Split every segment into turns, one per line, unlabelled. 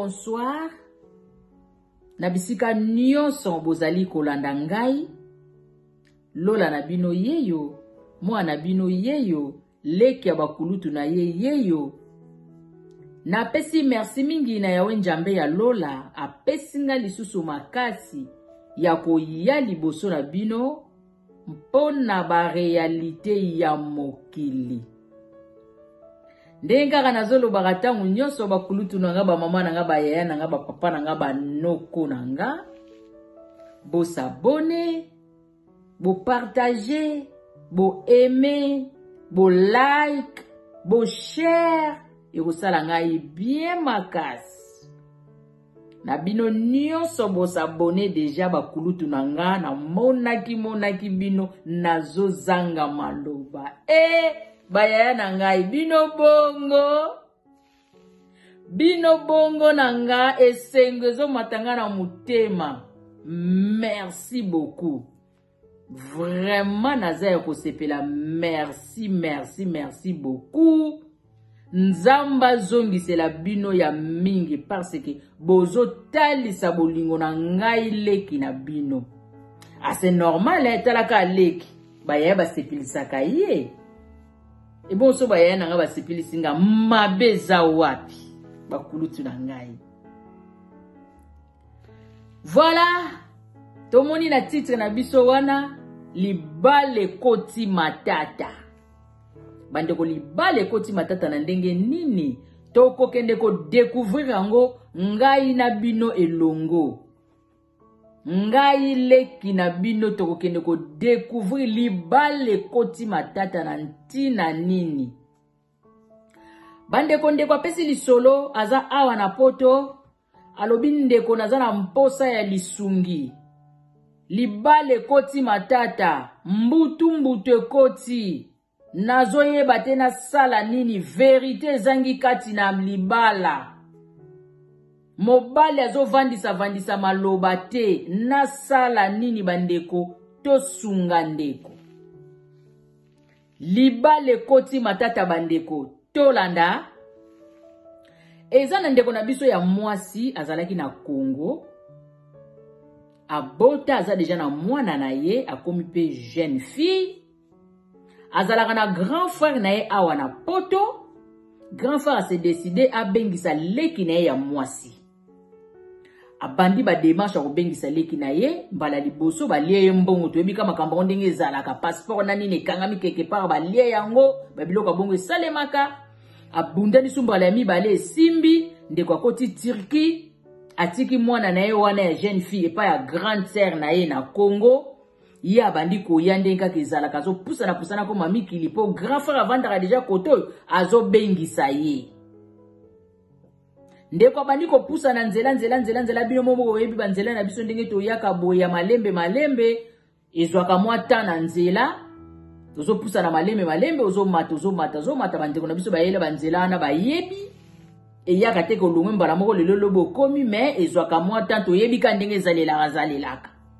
bonsoir na bisika nyonso bozali kolanda ngai lola na bino yeyo mwana na bino yeyo Leki ya bakulutu na ye yeyo. Napesi merci mingi na Yawe Njambe ya lola apesi nga lisusu makasi ya koya liboso na bino mpo na ba realite ya mokili. ndenge kaka nazolobaka ntango nyonso bakulutu na nga bamama na nga bayaya na nga bapapa na nga banoko na nga bosabone Bo partager, bo aimer, bo like, bo share ekosala ngai bien makasi. Na bino nyonso bo s'abonner déjà bakulutu na nga na monaki monaki bino nazo zanga maloba. Eh bayaya na ngai bino bongo. bino bongo na nga esengo ezomata nga na motema merci beaucoup vraiment naza ya kosepela merci merci merci beaucoup nzambe azongisela bino ya mingi parce que bozotalisa bolingo na ngai leki na bino ase ah, normal eh, talaka leki bayaya basepelisaka ye ebonso bayaya na ngai basepelisi nga mabe eza wapi bakulutu na ngai voilà tomoni na titre na biso wana libala ekoti matata bandeko libala ekoti matata na ndenge nini tokokende kodekouvrir yango ngai na bino elongo ngai leki na bino tokokende kodecouvrir libala ekoti matata na ntina nini bandeko ndeko apesi lisolo aza awa na poto alobi ndeko naza na mposa ya lisungi libala ekoti matata mbutu mbutu ekoti Nazoyeba te nasala nini verite ezangi kati na libala. Mobali azovandisa vandisa maloba te nasala nini bandeko tosunga ndeko. Libala ekoti matata bandeko tolanda eza na ndeko na biso ya mwasi azalaki na Congo abota aza deja na mwana na ye akomi mpe jeune fille azalaka na grand frère na ye awa na poto grand frère ase décide abengisa leki na ye ya mwasi abandi bademarche ya kobengisa leki na ye mbala liboso balie ye mbongo toyebi ka makambo yango ndenge ezalaka passeport na nini ekangami quelque part balie yango babiloko ya bongo esalemaka abundani so mbala ya mibale esimbi ndeko akoti turquie atiki mwana na ye wana ya jeune fille epai ya grande sœur na ye na congo ye abandi koya ndenge kaka ezalaka azopusana pusana akoma mikili mpo grand frère avandaka deja kote oyo azobengisa ye ndeko abandi kopusana nzela nzela nzela nzela bino moko boyebi banzela na biso ndenge toyaka boye ya malembe malembe ezwaka mwa temps na nzela tozopusana malembe malembe ozomata ozomata ozomata bandeko na biso bayela banzela wana bayebi eyaka te kolongwe mbala moko lelo lobo okomi me ezwaka mwa temps toyebi ka ndenge ezalelaka zalelaka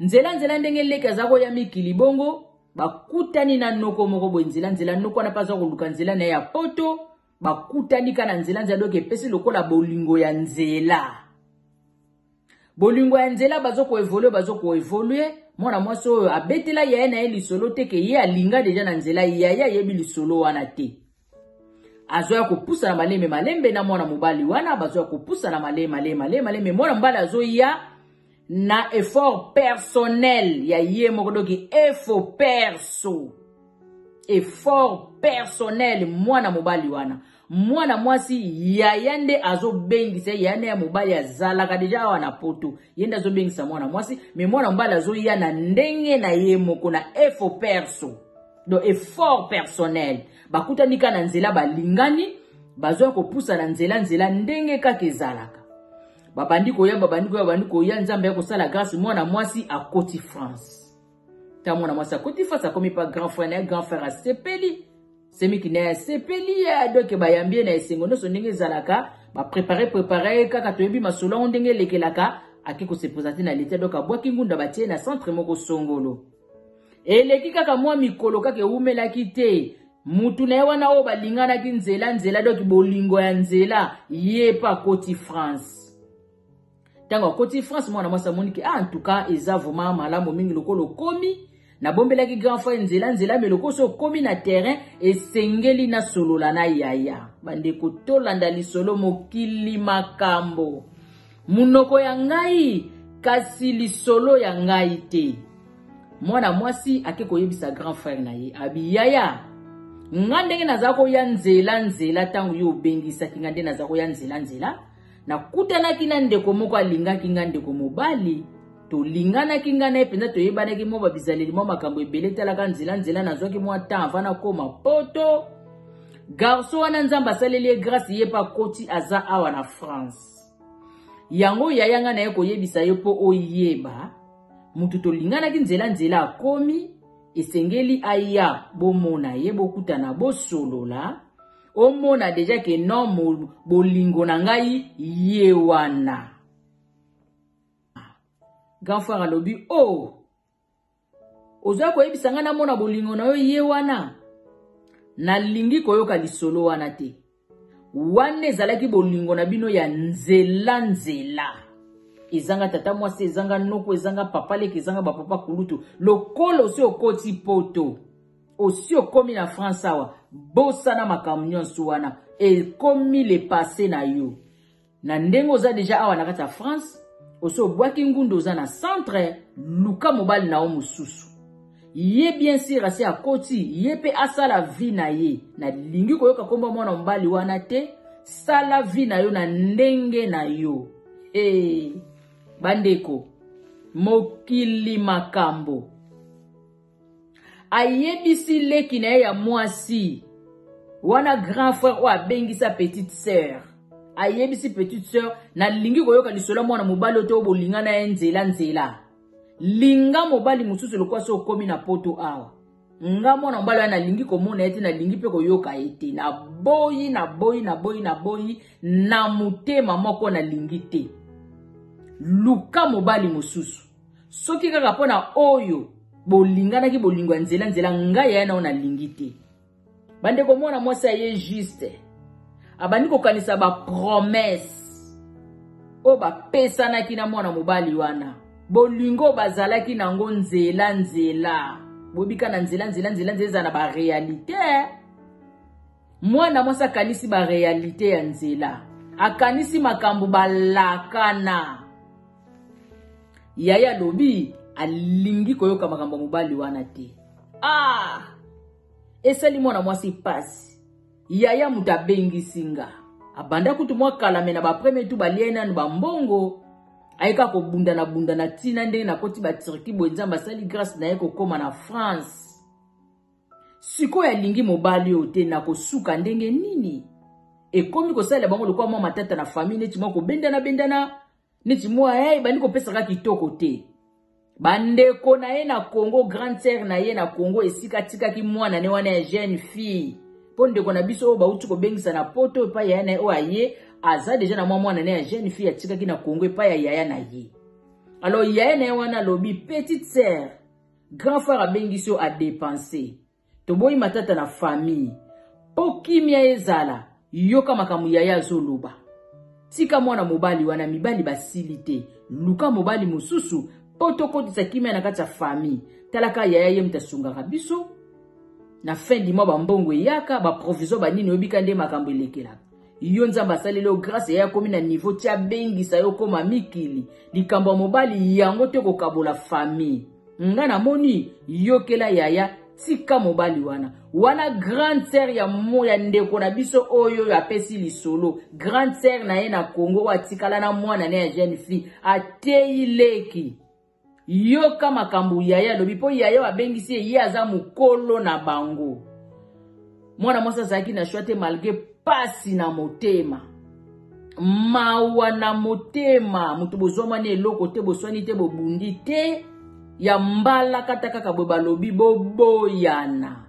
nzela nzela ndenge leki aza koya mikili bongo bakutani na noko moko boye nzela nzela noko wana mpe aza koluka nzela na ye ya poto bakutani ka na nzela nzela doki epesi lokola bolingo ya nzela bolingo ya nzela bazo koevolue bazo koevolue mwana mwasi oyo abetela yaya na ye lisolo te ke ye alinga deja na nzela yaya ayebi lisolo wana te azo ya kopusa na malembe malembe na mwana mobali wana bazo ya kopusa na malembe malembe malembe malembe mwana mobali azo ya na effort personnel ya ye moko doki efo perso effort personnel mwana mobali wana mwana mwasi yaya nde azobengisa yaya nde ya mobali azalaka deja awa na poto ye nde azobengisa mwana mwasi me mwana mobali azoya na ndenge na ye moko na efo perso donc effort personnel bakutani kaka na nzela balingani bazoya kopusa na nzela nzela ndenge kaka ezalaka babandi koya babandi koya babandi koya nzambe ya kosala grâce mwana mwasi akoti france ta mwana mwasi akoti france akomi pa grand frère na ye grand frère asepeli semiki na ye asepeli ya doke bayambi ye na esengo nyonso ndenge ezalaka baprepare prepare ye kaka toyebi masolo yango ndenge elekelaka ake kosepoza te na leta doke abwaki ngunda batie na centre moko songolo eleki kaka mwa mikolo kaka ewumelaki te mutu na ye wana oyo balinganaki nzela nzela doki bolingo ya nzela ye mpe akoti france ntango akoti france mwana mwasi amoni ke ah, ntuka eza vraimen malamu mingi lokola okomi nabombelaki grand frere nzela nzela me lokola so okomi na terrain esengeli nasolola na yaya bandeko tolanda lisolo mokili makambo Monoko ya ngai, kasi lisolo ya ngai te. Mwana mwasi ake koyebisa grand frère na ye, abiyaya. Nga ndenge naza koya nzela nzela ntango yo obengisaki nga nde naza koya nzela nzela. Nakutanaki na ndeko moko alingaki nga ndeko mobali. tolinganaki ngai na ye mpenza toyebanaki mwa babizaleli mwa makambo ebele etalaka nzela nzela nazwaki mwa temps avant nakoma poto garso wana nzambe asaleli ye grace ye mpe akoti aza awa na france yango yaya ngai naye koyebisa yo mpo oyeba moto tolinganaki nzela nzela akomi esengeli aya bomona ye bokutana bosolola omona deja ke non bolingo na ngai ye wana grand frère alobi o oh, ozoya koyebisa ngai namona bolingo na yo ye wana nalingi koyoka lisolo wana te wana ezalaki bolingo na bino ya nzela nzela ezanga tata mwasi ezanga noko ezanga papa leke ezanga bapapa kulutu lokola osi okoti poto osi okomi na france awa bosana makambo nyonso wana ekomi le passe na yo Na ndenge oza deja awa na kati ya France, osi obwaki ngunda oza na centre, luka mobali na yo mosusu. Ye bien sur asi akoti, ye pe asala vie na ye. Nalingi koyoka kombo ya mwana mobali wana te, sala vie na yo na ndenge na yo. Hey, bandeko, mokili makambo. ayebisi leki na ye ya mwasi wana grand frère oyo abengisa petite sœur ayebisi petite sœur nalingi koyoka lisolo ya mwana mobali oyo te oyo bolinga na ye nzela nzela linga mobali mosusu lokola so okomi na poto awa nga mwana mobali wana nalingi komona ye te nalingi mpe koyoka ye te naboyi naboyi naboyi naboyi na motema moko nalingi te luka mobali mosusu soki kaka mpo na oyo bolinganaki bolingo ya nzela nzela ngai yaya nao nalingi te bandeko mwana mwasi aye juste abandi kokanisa bapromese oyo bapesanaki na mwana mobali wana bolingo bazalaki na yango nzela nzela bobika na nzela nzela nzela nzela ezala na barealité mwana mwasi akanisi barealite ya nzela akanisi makambo balakana yaya alobi alingi koyoka makambo ya mobali wana te ah esali mwana mwasi mpasi yaya moto abengisi nga abanda kutu mwa kalame na bapremier tu balia ye nanu bambongo ayeka kobundana bundana ntina ndenge nakoti baturki boye nzambe asali grâce na ye kokóma na france Sikoyo alingi mobali oyo te nakosuka ndenge nini? Ekomi kosalela bango lokola mwa matata na famille neti mwa kobendana bendana neti mwa hey, eh, bandi kopesaka kitoko te. Bandeko na ye na Congo, grande sœur na ye na Congo esika atikaki mwana ne wana ya jeune fille. Mpo ndeko na biso oyo bauti kobengisa na poto epai ya na ye oyo aye aza deja na mwa mwana ne ya jeune fille atikaki na Congo epai ya yaya na ye. Alors yaya na ye wana alobi petite sœur Grand frère abengisi yo a depense. Toboyi matata na famille. Po kimia ezala, yoka makambo yaya azoloba. Tika mwana mobali wana mibali basili te. Luka mobali mosusu po tokotisa kimia na kati ya famille. Tala ka yaya ye moto asungaka biso. Na fin du mois ba mbongo eyaka, ba provisoire ba nini oyebi ka nde makambo elekelaka. yo nzambe asaleli yo grâce ya akomi na niveau ti abengisa yo koma mikili likambo ya mobali yango te kokabola famille nga namoni yokela yaya tika mobali wana wana grande sœur ya mo ya ndeko na biso oyo oyo apesi lisolo grande sœur na ye na congo oyo atikala na mwana na ya jeune fille ateyi leki Yoka makambo yaya alobi mpo yaya oyo abengisi ye ye aza mokolo na bango mwana mwasi azalaki na shwa te malgre mpasi na motema mawa na motema moto bozwamani eloko te boswani te bobundi te ya mbala kata kaka boye balobi boboyana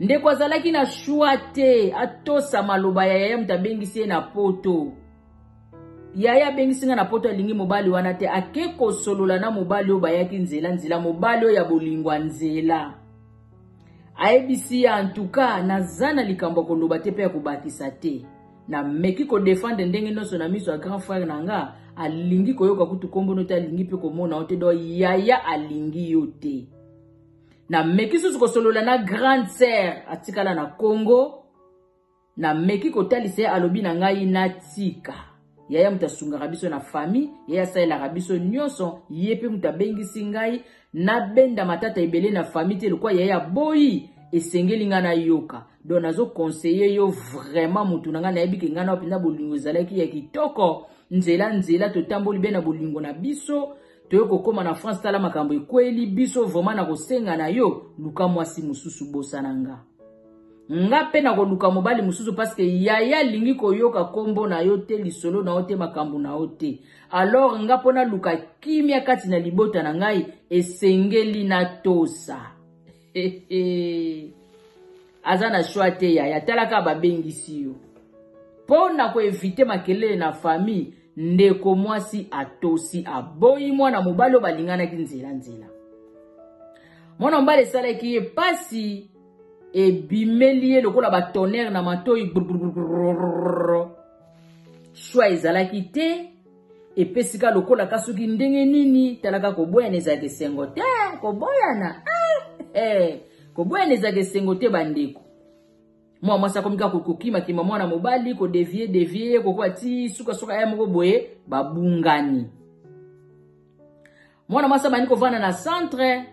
ndeko azalaki na shwa te atosa maloba ya yaya moto abengisi ye na poto yaya abengisi ngai na poto alingi mobali wana te ake kosolola na mobali oyo bayaki nzela nzela mobali oyo ya bolingwa nzela ayebisi ya antuka naza na likambo ya koloba te mpe ya kobakisa te nameki kodefendre ndenge nyonso na miso ya grand frère na nga alingi koyoka kutu nkombono te alingi mpe komona yo te do yaya alingi yo te nameki susu kosolola na grande sere atikala na congo Nameki kotalisa ye, alobi na ngai natika. Yaya moto asungaka biso na famille, yaya asalelaka biso nyonso, ye mpe moto abengisi ngai nabenda matata ebele na famille te lokwa yaya aboyi esengeli ngai nayoka donc nazokonseye yo vraiment motu na ngai nayebi ke ngai nao mpenza bolingo ezalaki ya kitoko nzela nzela totamboli be na bolingo na biso toye kokoma na france tala makambo ekweli biso vraimen na kosenga na yo luka mwasi mosusu bosana nga nga mpe nakoluka mobali mosusu parceke yaya alingi koyoka nkombo na yo te lisolo na yo te makambo na yo te alors nga mpo naluka kimya kati na libota na ngai esengeli natosa aza na choix te yaya tala kaka babengisi yo mpo na koevite makelele na famille ndeko mwasi atosi aboyi mwana mobali oyo balinganaki nzelanzela mwana mobali esalaki ye mpasi ebimeli ye lokola batonere na matoi shwa ezalaki te Epesi ka lokola ka soki ndenge nini talaka koboyana ezalaka esengo te koboyana ah, eh, koboyana ezalaka esengo te bandeko mwa mwasi akomi kaka kokimakima mwana mobali kodevie devie kokoa ti sukasuka ya moko boye babungani mwana mwasi abandi kovanda na centre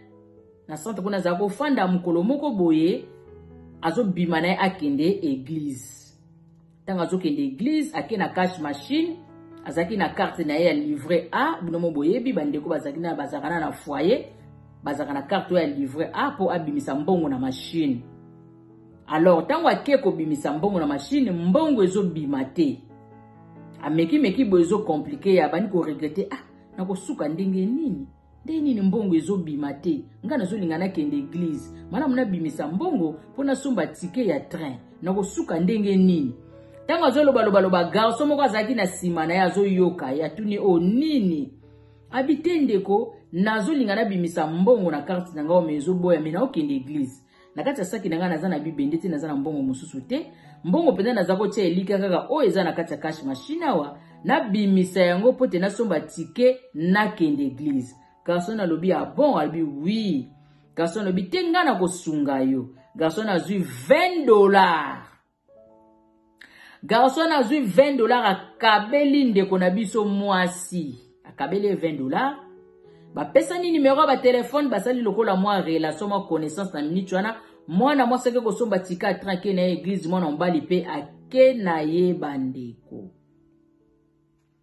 na centre kuna azala kofanda mokolo moko boye azobima na ye akende eglize ntango azokende eglize ake na cash machine azalaki na karte na ye ya livret a bino mo boyebi bandeko bazalaki na bazalaka na na foyer bazalaka na karte oyo ya livret a mpo abimisa mbongo na mashine alors ntango ake kobimisa mbongo na mashine mbongo ezobima te amekimeki boye ezokomplike ye abandi koregrete ah nakosuka ndenge nini ndenge nini mbongo ezobima te ngai nazolinga nakende eglize malamu nabimisa mbongo mpo nasomba tike ya train nakosuka ndenge nini ntango azolobalobaloba garso moko azalaki na nsima na ye azoyoka ye atuni o oh, nini abi te ndeko nazolinga nabimisa mbongo na karte na ngai ome ezoboya me naokende eglize na kati ya saki na ngai naza na bibende te naza na mbongo mosusu te mbongo mpenza naza kotya elika kaka oyo eza na kati ya cash machine awa nabimisa yango mpo te nasomba tike nakende eglize garson alobi abon ah alobi wi garson alobi te ngai nakosunga yo garson azwi 20 dollars garçon azwi 20 dollars akabeli ndeko na biso mwasi akabeli ye 20 dollars bapesani numero ya batelefone basali lokola mwa relation mwa connaissance na minute wana mwana mwasi ake kosomba tika atranke na ye eglize mwana mobali mpe ake na ye bandeko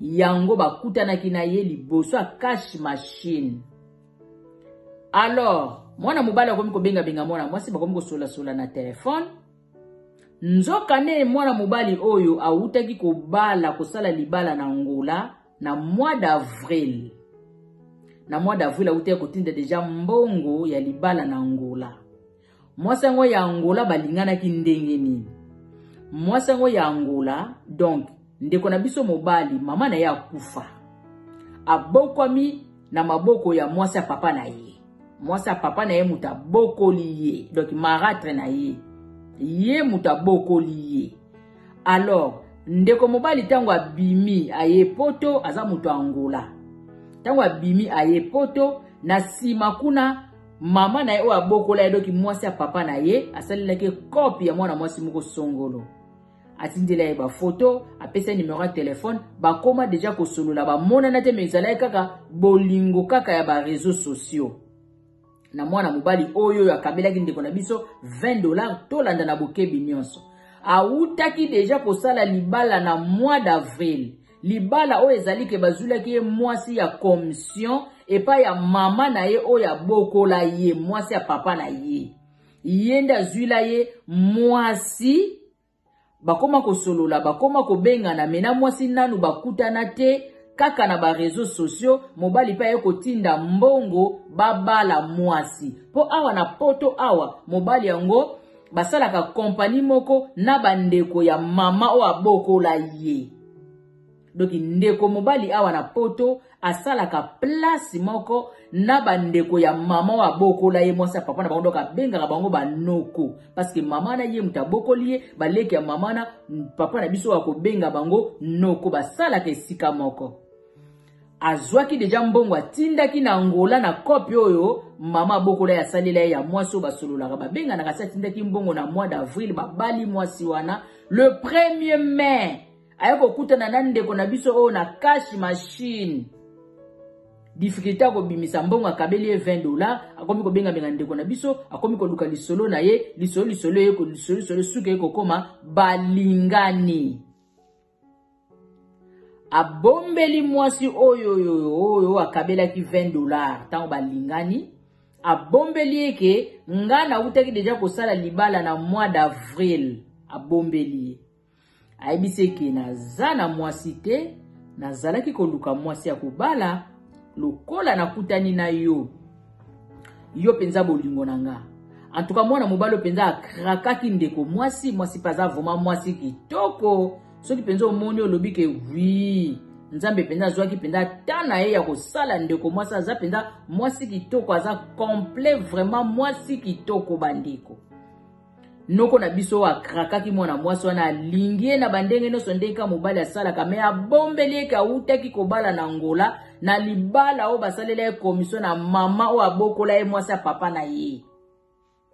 yango bakutanaki na ye liboso ya cash machine alors mwana mobali akomi kobengabenga mwana mwasi bakomi kosolasola na telefone nzokande mwana mobali oyo awutaki kobala kosala libala na ngola na mois d'avril na mois d'avril awutaki kotinda deja mbongo ya libala na ngola mwasi yango ya angola balinganaki ndenge nini mwasi yango ya angola donc ndeko na biso mobali mama na ye akufa abokwami na maboko ya mwasi ya papa na ye mwasi ya papa na ye moto abokoli ye donc maratre na ye ye moto abokoli ye alors ndeko mobali ntango abimi aye poto aza moto ya angola ntango abimi aye poto na nsima kuna mama na ye oyo abokola ye doki mwasi ya papa na ye asalelaki kope ya mwana mwasi moko songolo atindela ye bafoto apesa ye nimero ya telefone bakóma deja kosolola bamonana te me ezalaki kaka bolingo kaka ya bareseau sociaux na mwana mobali oyo oyo akabelaki ndeko na biso 20 dollars tolanda na bokebi nyonso awutaki deja kosala libala na mois d'avril libala oyo ezali ke bazwilaki ye mwasi ya commission epai ya mama na ye oyo abokola ye mwasi ya papa na ye ye nde azwila ye mwasi bakoma kosolola bakoma kobengana me na mwasi nanu bakutana te kaka na bareseau sociaux mobali mpe aye kotinda mbongo babala mwasi mpo awa na poto awa mobali yango basalaka kompani moko na bandeko ya mama oyo abokola ye donki ndeko mobali awa na poto asalaka place moko na bandeko ya mama oyo abokola ye mwasi ya papa na bango donk abengaka bango banoko parceke mama na ye moto abokoli ye baleki ya mama na papa na biso oyo akobenga bango noko basalaka esika moko Azwaki deja mbongo atindaki na Angola na copy oyo mama abokola ya salela ye ya mwasi oyo basololaka babenganaka se atindaki mbongo na mois d'avril babali mwasi wana le premier mai aye kokutana na ndeko na biso oyo na cash machine difficulté ya kobimisa mbongo akabeli ye 20 dollar akomi kobengabenga ndeko na biso akomi koluka lisolo na ye lisolo lisolo ye lisolo lisolo suka ye kokoma balingani abombeli mwasi oyo oyo akabelaki 20 dollars ntango balingani abombeli ye ke nga nautaki deja kosala libala na mois d'avril abombeli ye ayebisi eke naza na mwasi te nazalaki koluka mwasi ya kobala lokola nakutani na yo yo mpenza bolingo na nga en tout cas mwana mobali oyo mpenza akrakaki ndeko mwasi mwasi mpe aza vraimen mwasi kitoko soki mpenza omoni olobi ke wi nzambe mpenza azwaki mpenza ta na ye ya kosala ndeko mwasi aza mpenza mwasi kitoko aza complet vraimen mwasi kitoko bandeko noko na biso oyo akrakaki mwana mwasi wana alingi ye na bandenge nyonso ndenge kaka mobali asalaka me abombeli eke awutaki kobala na ngola na libala oyo basalela ye komisio na mama oyo abokola ye mwasi ya papa na ye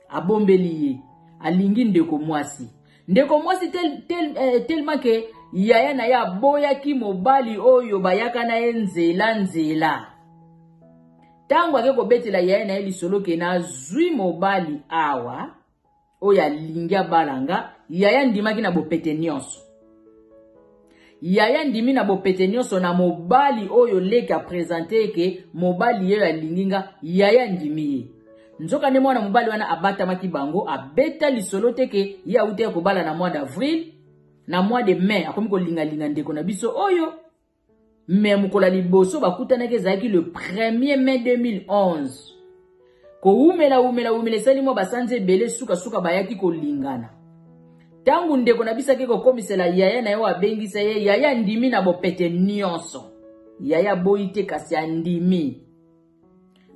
abombeli ye alingi ndeko mwasi ndeko mwasi tel, tel, eh, telema ke yaya na ye aboyaki mobali oyo bayaka na ye nzela nzela ntango ake kobetela yaya na ye lisolo ke nazwi mobali awa oyo alingi abala nga yaya ndimaki na bopete nyonso yaya ndimi na bopete nyonso na mobali oyo leki apresente eke mobali yeyo alingi nga yaya ndimi ye nzokande mwana mobali wana abatamaki bango abeta lisolo te ke ye awutaki kobala na mois d'avril na mois de mai akomi kolingalinga ndeko na biso oyo me mokolo ya liboso bakutanaki ezalaki le 1er mai 2011 kowumela wumela wumela esali mwa basanzi ebele sukasuka bayaki kolingana ntango ndeko na biso ake kokomisela yaya na ye oyo abengisa ye yaya andimi na bopete nyonso yaya aboyi te kasi andimi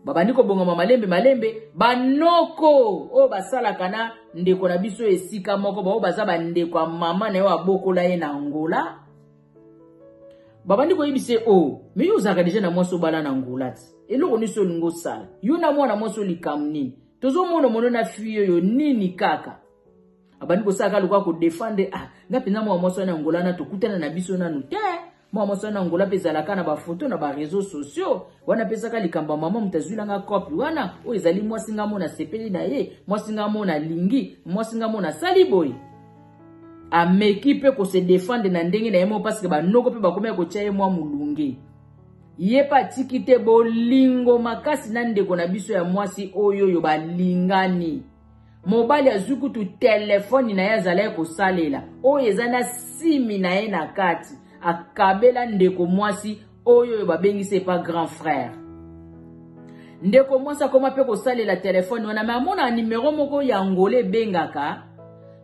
babandi kobongama malembe malembe banoko oyo basalaka na ndeko na biso esika moko baoyo baza bandeko ya mama na yo abokola ye na angola babandi koyebisa ye o oh, me yo ozalaka deja na mwasi obala na angola ti eloko nyonso olingi osala yo na mwana mwasi olikambo nini tozomona mono na fui oyo nini kaka abandi kosalaka lokola kodefendre ah nga mpenza mwana mwasi wana ya angola na tokutana na biso nanu te Mwa mosala na Angola mpe ezalaka na bafoto na ba reseaux sociaux. Wana pesaka likambo ya mama moto azwi na nga kopi wana, oyo ezali mwasi nga mo nasepeli na ye, mwasi nga mo nalingi, mwasi nga mo nasali boye. Ameki mpe ko se defendre na ndenge na ye moko parce que banoko mpe bakomi ya kotia ye mwa mulunge. Ye mpe atiki te bolingo makasi na ndeko na biso ya mwasi oyo oyo balingani. mobali azwi kutu telefoni na ye azalaki kosalela oyo eza na simi na ye na kati akabela ndeko mwasi oyo oyo babengisi epa grand frère ndeko mwasi akoma mpe kosalela telefone wana me amona nimero moko ya ngola ebengaka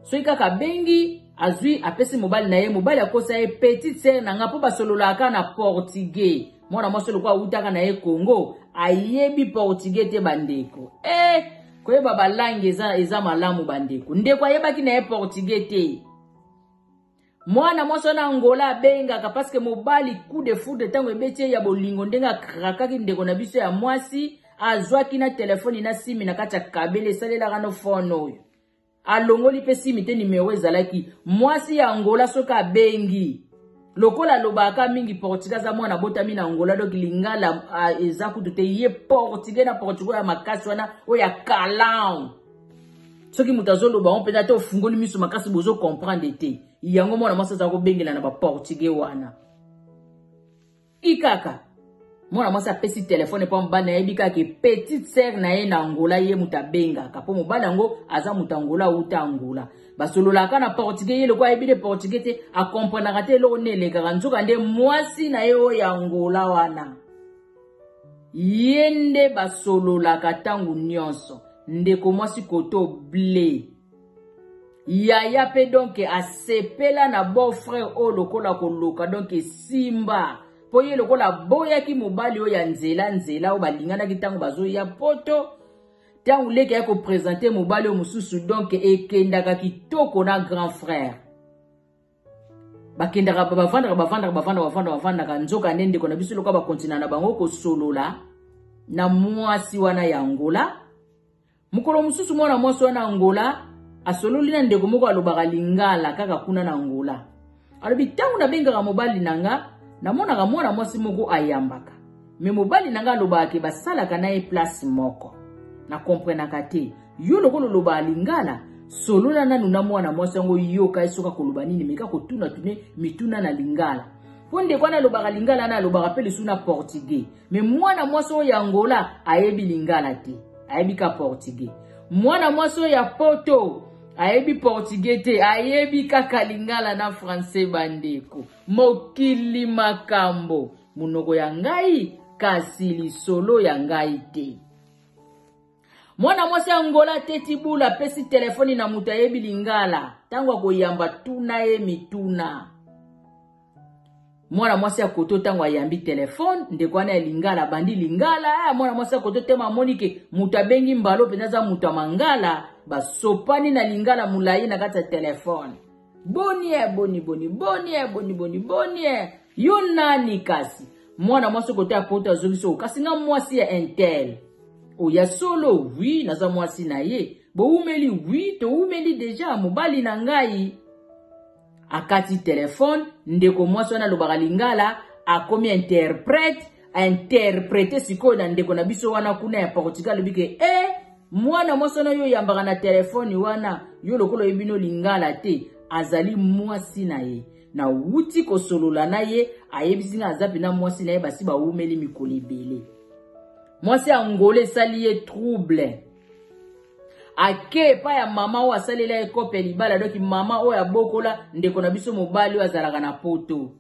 soki kaka abengi azwi apesi mobali na ye mobali akosa ye petite sere na ngai mpo basololaka na portugais mwana mwasi lokola awutaka na ye congo ayebi portugais te bandeko e eh, koyeba balangi eza, eza malamu bandeko ndeko ayebaki na ye portugais te mwana mwasi wana angola abengaka parceke mobali coup de foudre ntango ebeti ye ya bolingo ndenge akrakaki ndeko na biso ya mwasi azwaki na telefoni na simi na kati ya kabele esalelaka no fone oyo Alongoli pe simi te numero ezalaki. Mwasi ya Angola soki abengi. Lokola alobaka mingi portugais aza mwana abotami na Angola donc lingala eza kutu te ye portugais na portugais ya makasi wana oyo ya kalan. Soki moto azoloba on mpenza te ofungoli miso makasi bozo comprendre te. Yango mwana mwasi aza kobengela na ba portugais wana. Ti kaka. Mwana mwasi apesi telefone mpo mobali nayebi kaka ke petite sœur na ye na Angola ye moto abengaka mpo mobali yango aza moto Angola awuta Angola basololaka na portugais ye lokola ayebi nde portugais te akomprenaka te eloko nde elekaka nzoka nde mwasi na ye oyo ya Angola wana ye nde basololaka ntango nyonso ndeko mwasi koto ble yaya mpe donk asepela na beau frère oyo lokola koloka donk esimba mpo ye lokola aboyaki mobali oyo ya nzela nzela oyo balinganaki ntango bazoya poto ntango leki ayaki kopresente mobali oyo mosusu donk ekendaka kitoko na grand frère bakendaka bavandaka bavandaka bavandaka bavandaka bavandaka nzoka nde ndeko na biso lokola bakontina na bango kosolola na mwasi wana ya ngola Mokolo mosusu mwana mwasi wana Angola asololi na ndeko moko alobaka lingala kaka kuna na Angola. Alobi ntango nabengaka mobali na nga namonaka mwana mwasi moko ayambaka me mobali na nga alobaka ke basalaka na ye place moko. Na komprenaka te yo lokola olobaka lingala solola nanu na mwana mwasi yango yoka ye soki akoloba nini meka kotunatune mituna na lingala mpo ndeko wana alobaka lingala na alobaka mpe lisusu na portugais Mais mwana mwasi oyo ya Angola ayebi lingala te. Ayebi ka portugais. Mwana mwasi oyo ya Poto ayebi portugais te, ayebi kaka lingala na français bandeko. Mokili makambo. Munoko ya ngai kasi lisolo ya ngai te. mwana mwasi ya ngola ateti bula apesi telefoni na moto ayebi lingala ntango akoyamba tuna ye mituna mwana mwasi ya koto ntango ayambi telefone ndeko wana ya lingala abandi lingala ya eh, mwana mwasi ya koto tema amoni ke moto abengi mbalo mpenza aza moto ya mangala basopani na lingala molai na kati ya telefone bonie eh, boni boni bonie eh, boni boni bonie Yo nani kasi? Mwana mwasi kote ya poto azongisi o kasi nga mwasi ya intel. O ya solo, oui, naza mwasi na ye. Bowumeli, oui, towumeli deja mobali na ngai. Akati telefone, ndeko mwasi wana alobaka lingala, akomi interprète, interprète sikoyo na ndeko na biso wana kuna ya Portugal alobi ke eh mwana mwasi wana yo oyambaka na telefone wana yo lokola oyebi no lingala te azali mwasi na ye Nawuti kosolola na ye, ayebisi nga aza pena mwasi na ye basi bawumeli mikolo ebele. Mwasi ya Angola esali ye trouble. Ake epai ya mama oyo asalela ye kope ya libala, doki mama oyo abokola ndeko na biso mobali oyo azalaka na poto.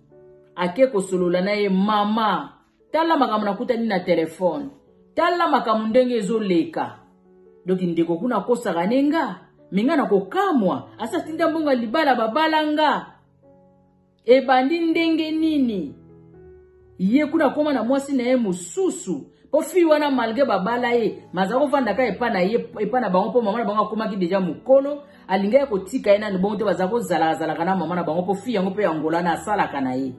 Ake kosolola na ye, mama, tala makambo nakutani na telefone tala makambo ndenge ezoleka donki ndeko kuna akosaka ne nga me nga na kokamwa asi atinda mbongo libala babala nga ebandi ndenge nini ye kuna akoma na mwasi na ye mosusu mpo fii wana malgre babala ye maza kovanda ka epa na ye epa na bango mpo mama na bango akomaki deja mokolo alingaki kotika ye nani bongo te baza kozalaka zalaka na mama na bango mpo fii yango mpe ya ngolana asalaka na ye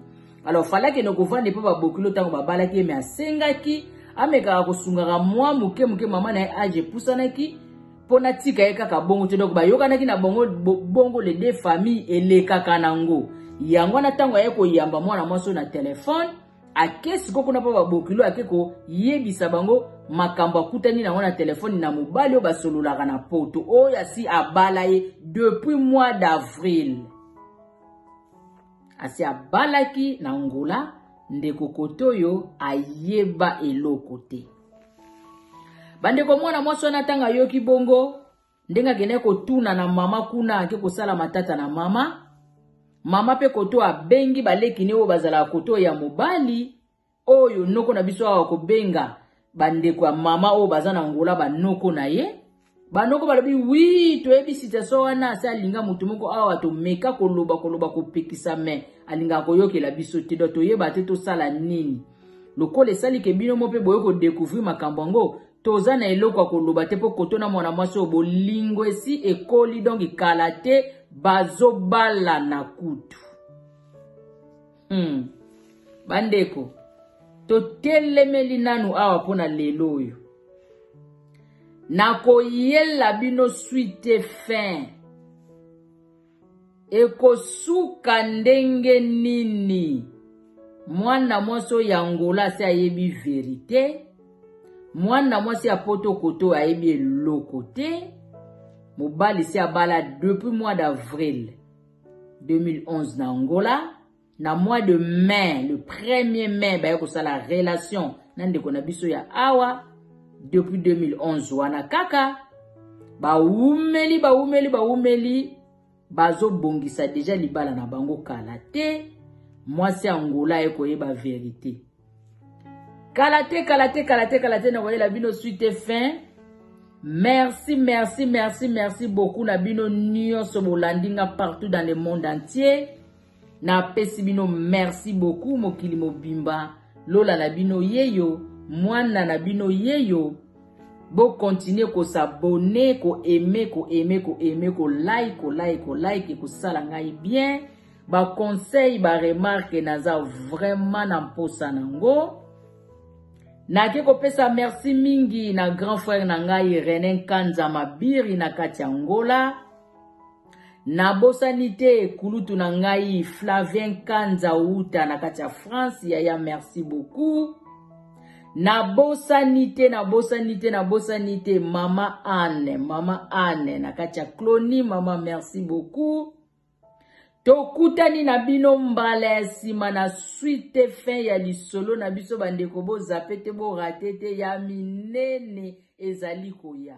alors fala akende kovanda epa babokilo ntango babalaki ye me asengaki amekaka kosungaka mwa moke moke mama na ye age epusanaki mpo natika ye kaka bongo te donc bayokanaki na bongo bongo le de famille elekaka nango yango wana ntango aye koyamba mwana mwasi oyo na telefone ake siko kuna mpo babokilo ake koyebisa bango makambo akutani nango na telefone na mobali oyo basololaka na poto oyo asi abala ye depuis mois d'avril asi abalaki na ngola ndeko koto oyo ayeba eloko te bandeko mwana mwasi wana ntango ayoki bongo ndenge akendaki kotuna na mama kuna ake kosala matata na mama mama mpe koto abengi baleki ne oyo bazalaka koto ya mobali oyo noko na biso awa kobenga bandeko ya mama oyo baza na ngola banoko na ye banoko balobi wi toyebi situation wana asi alinga moto moko awa tomeka koloba koloba kopekisa me alingaka koyokela biso te do toyeba te tosala nini lokola esali ke bino mo mpe boye kodekouvrir makambo yango toza na eloko ya koloba te mpo koto na mwana mwasi oyo bolingo esi ekoli donk kala te bazobalana kutu Hmm. Bandeko, totelemeli nanu awa mpo na lelo oyo. Nakoyela bino suite fin. Ekosuka ndenge nini? Mwana mwasi oyo ya Angola asi ayebi verite. Mwana mwasi ya poto koto ayebi eloko te. Mobali si abala depuis mois d'avril. 2011 na Angola na mois de mai le 1er mai baye kosala relation na ndeko na biso ya awa depuis 2011 wana kaka bawumeli bawumeli bawumeli bazobongisa deja libala na bango kala te mwasi angola ye koyeba verite kala te kala te kala te kala te nakoyela bino suite fin merci merci merci merci beaucoup na bino nyonso bolandi nga partout dans le monde entier napesi bino merci beaucoup mokili mobimba lola na bino yeyo mwana na bino yeyo bokontinue kosabone koaime koaime koaime kolike kolike kolike kosala ngai bien ba conseil ba remarque naza vraiment na mposa nango nake kopesa merci mingi na grand frère na ngai René Nkanza Mabiri na kati ya Ngola nabosani te kulutu na ngai Flavien Nkanza Uta na kati ya France yaya merci beaucoup nabosani te nabosani te nabosani te mama anne mama anne na kati ya cloni mama merci beaucoup Tokutani na bino mbala ya nsima na suite fin ya lisolo na biso bandeko bozape te borate te ya minene ezali koya.